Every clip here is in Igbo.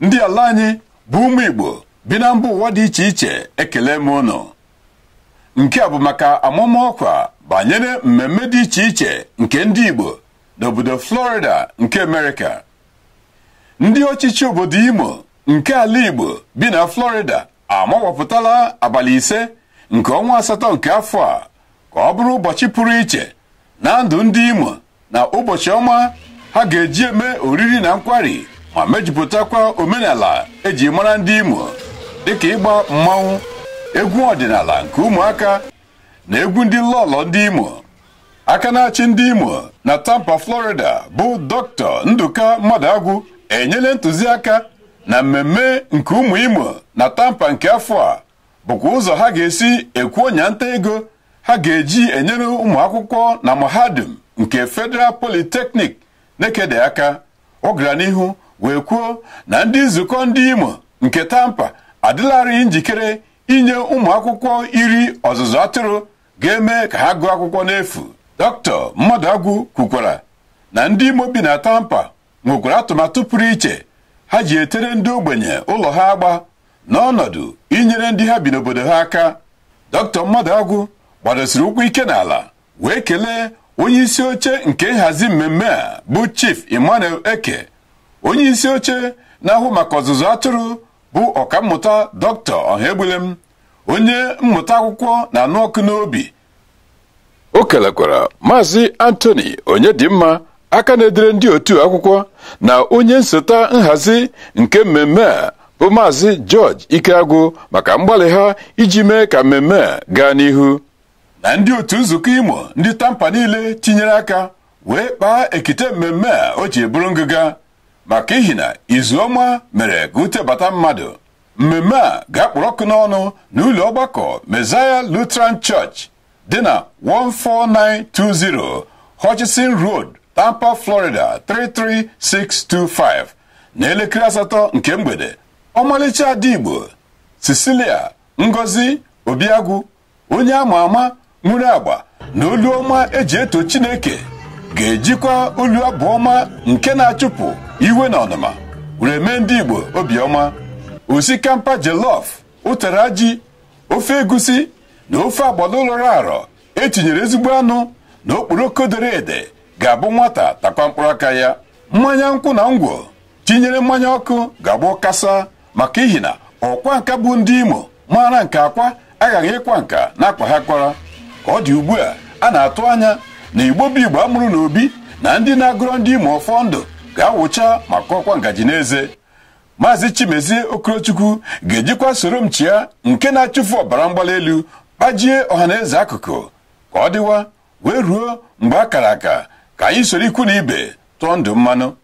ndị ala anyị bụ ụmụ Igbo bi na mba ụwa dị iche iche ekele m unu nke a bụ maka amụma ọkwa banyere mmemme dị iche iche nke ndị Igbo n'obodo Florida nke Amerịka ndị ọchịchị obodo Imo nke ala Igbo bi na Florida amawapụtala abalị ise nke ọnwa asatọ nke afọ a ka ọ bụrụ ụbọchị pụrụ iche na ndụ ndị Imo na ụbọchị ọma ha ga-eji eme oriri na nkwari ma mejupụtakwa omenala eji mara ndị Imo dịka ịgba mmanwụ egwu ọdịnala nke ụmụaka na egwu ndị lọlọ ndị Imo aka na-achị ndị Imo na Tampa Florida bụ Dr. Nduka Mmadụagwụ enyela ntụziaka na mmemme nke ụmụ Imo na Tampa nke afọ a bụkwa ụzọ ha ga-esi ekwe ọnya nta ego ha ga-eji enyere ụmụ akwụkwọ na mahadum nke Federal Polytechnic Nekede aka ọ gara n'ihu wee kwuo na ndị nzukọ ndị Imo nke Tampa adịlarị njikere inye ụmụ akwụkwọ iri ọzụzụ atụrụ ga-eme ka ha gụọ akwụkwọ n'efu Dr. Mmadụagwụ kwukwara na ndị Imo bi na Tampa nwekwara atụmatụ pụrụ iche ha ji etere ndị ogbenye ụlọ ha agba n'ọnọdụ inyere ndị ha bi n'obodo ha aka Dr. Mmadụagwụ gbadosiri ụkwụ ike n'ala wee kelee onye isi oche nke nhazi mmemme a bụ Chief Emmanuel Eke onye isi oche na-ahụ maka ọzụzụ atụrụ bụ ọkammụta Dr. Ọhaegbulem onye mmụta akwụkwọ na-anụ ọkụ n'obi o kelekwara maazị Anthony Onyedimma aka na-edere ndị otu akwụkwọ na onye nsota nhazi nke mmemme a bụ maazị George Ikeagwụ maka mgbalị ha iji mee ka mmemme a gaa n'ihu na ndị otu nzukọ Imo ndị Tampa niile tinyere aka wee kpaa ekite mmemme a o ji bụrụ ngịga maka ihi na izu ọma mere ka ute bata mmadụ mmemme a ga-akpọrọ ọkụ n'ọnụ n'ụlọ ọgbakọ Messiah Lutheran Church dị na 14920 Hutchinson Road Tampa Florida 33625 na elekere asatọ nke mgbede ọmalịcha ada Igbo Cecilia Ngozi Obiagwụ onye ama ama nwere agba na olu ọma eji eto chineke ga-ejikwa olu abụ ọma nke na-achụpụ iwe na ọnụma were mee ndị Igbo obiọma osikapa jollof ụtara ji ofe egusi na ofe agbọlọ lọrọ arọ etinyere ezigbo anụ na okporoko dere ede ga-abụ nwata takwa mkpụrụ aka ya mmanya nkwụ na ngwọ tinyere mmanya ọkụ ga-abụ kasa maka ihi na ọkwa nka bụ ndị Imo maara nke akwa aghaghị ịkwa nka n'akwa ha kwara ka ọ dị ugbu a a na-atụ anya na Igbo bụ Igbo a mụrụ n'obi na ndị na-agọrọ ndị Imo ọfọ ndụ ga-awụcha ma kọkwa ngaji n'eze maazị Chimezie Okorochukwu ga-ejikwa soro m chịa nke na-achụfu ọbara mgbali elu kpajie ọhaneze akụkụ ka ọ dịwa wee ruo mgbe a kara aka ka anyị soro ikwu na ibe tụọ ndụ mmanụ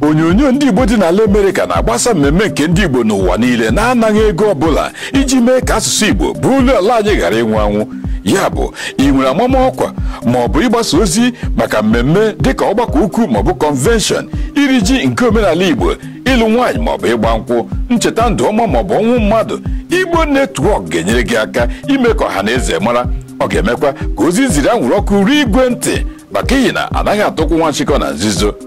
onyonyo ndị Igbo dị n'ala Amerịka na-agbasa mmemme nke ndị Igbo n'ụwa niile n'anaghị ego ọbụla iji mee ka asụsụ Igbo bụ olu ala anyị ghara ịnwụ anwụ ya bụ ị nwere amamọkwa ma ọ bụ ịgbasa ozi maka mmemme dịka ọgbakọ ukwu maọbụ kọnvenshọn iri ji nke omenala Igbo ịlụ nwaanyị maọbụ ịgba nkwụ ncheta ndụ ọma maọbụ ọnwụ mmadụ Igbo netwọk ga-enyere gị aka ime ka ọha na eze mara ọ ga-emekwa ka ozi ziri anwụrụ ọkụ ruo igwe ntị maka ihi na anaghị ata ụkwụ nwa nchịkọ na nzuzo